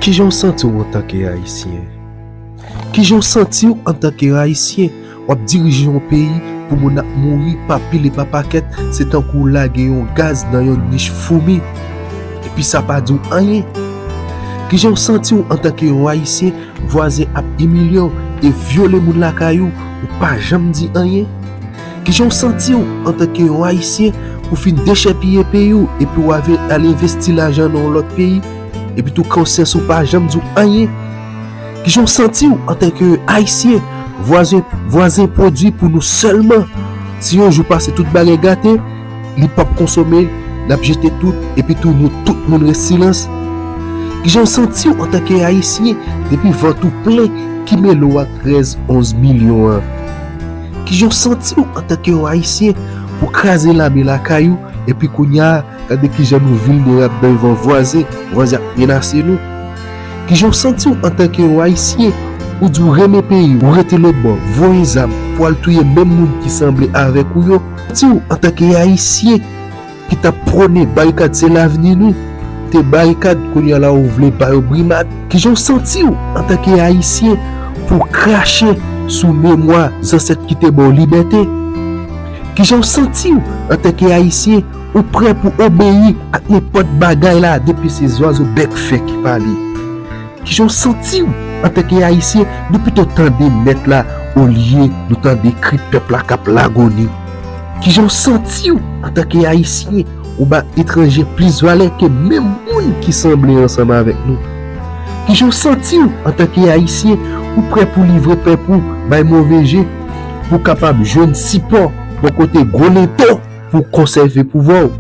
Kijan w santi w antanke Ayisyen? Kijan w santi w antanke Ayisyen? W ap dirije yon peyi pou moun ap mouri pa pil e pa pakèt, se tankou w lage yon gaz nan yon nich foumi, epi sa pa di w anyen. Kijan w santi w antanke yon Ayisyen, vwazen ap imilye w e vyole moun lakay ou, ou pa janm di anyen? Kijan w santi w antanke yon Ayisyen ou fin dechèpiye peyi w epi w ave al envesti lajan nan yon lòt peyi epi tou konsyans ou pa janm di w anyen? Kijan w santi w antanke yon Ayisyen vwazen vwazen pwodwi pou nou sèlman si yon jou pase tout bagay gate li p ap konsome l ap jete tout epi tou nou tout moun res silans? Kijan w santi w antanke Ayisyen depi vant ou plen kimelo ak 13 11 milyon an? Kijan w santi w antanke yon Ayisyen pou kraze lame lakay ou epi kounya gade kijan nou vilnerab devan vwazen, vwazen ap menase nou? Kijan w santi w antanke yon Ayisyen ou di w renmen peyi w rete lotbò voye zam pou al touye menm moun ki sanble avèk ou yo? Santi w antanke yon Ayisyen ki tap prone barikad se lavni nou te barikad kounya la ou vle bayo brimad kijan ou santiw antanke ayisyen pou w krache sou memwa zansèt ki te baw libète kijan ou santiw antanke ayisyen ou prè pou obeyi ak nenpòt bagay la depi se zwazo bèk fè ki pale kijan ou santiw antanke ayisyen nou pito tande mèt la olye nou tande kri pèp la kap lagoni. Kijan w santi w antanke Ayisyen? Ou ba etranje plis valè ke menm moun ki sanble ansanm avèk nou? Kijan w santi w antanke Ayisyen? Ou prè pou livre pèp ou bay move je pou w kapab jwenn sipò bò kote gwo lento pou w konsève pouvwa w?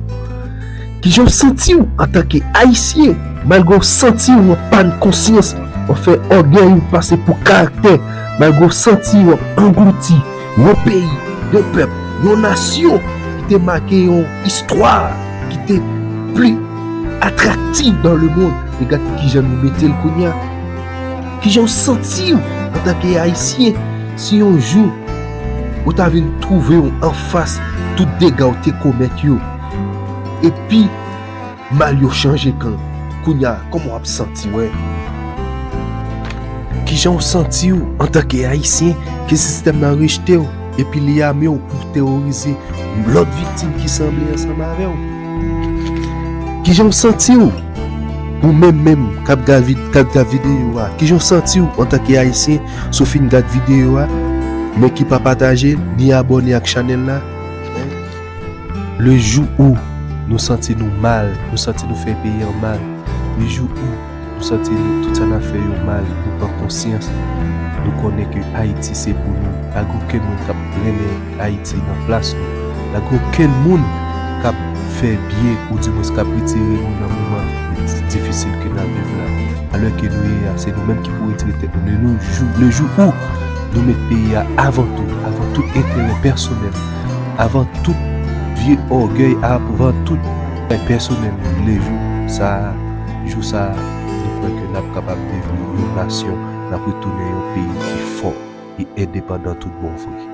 Kijan w santi w antanke Ayisyen? Malgre w santi w an pàn konsyans, w ap fè ògèy ou pase pou karaktè, malgre w santi w ap anglouti, Yon peyi, yon pèp, yon nasyon ki te make yon istwa ki te pli atraktiv dan lemond. E gad kijan nou mete l kounye a. Kijan w santi w antanke Ayisyen si yon jou ou ta vin twouve w anfas tout dega w te komèt yo? Epi. Mal yo chanje kan kounya koman wap santiw hein. Kijan ou santi ou antanke ayisyen ke sistèm nan rejte ou epi li ame ou pou teworize lòt viktim ki sanble ansanm avè ou? Kijan ou santi ou? Ou menm menm kap gad videyo a kijan ou santi ou antanke ayisyen si w fin gad videyo a men ki pa pataje l ni abòne ak chanèl la? Le jou ou Nou santi Nou mal Nou santi Nou fè peyi an mal Le jou ou Nou santi Nou tout sa nap fè yo mal Nou pran konsyans Nou konnen ke Ayiti se pou Nou pa gen okenn moun kap trennen Ayiti nan plas Nou pa gen okenn moun kap fè byen ou di mwens kap retire Nou nan moman difisil ke nap viv la alè ke Nou ye a se Nou menm ki pou retire tèt Nou le jou ou Nou met peyi a avan tou avan tout enterè pèsonèl. avan tout vye ògèy avan tout bagay pèsonèl nou vle jou sa jou sa nou kwè ke nap kapab devni yon nasyon nap retounen yon peyi ki fò e endepandan tout bon vre.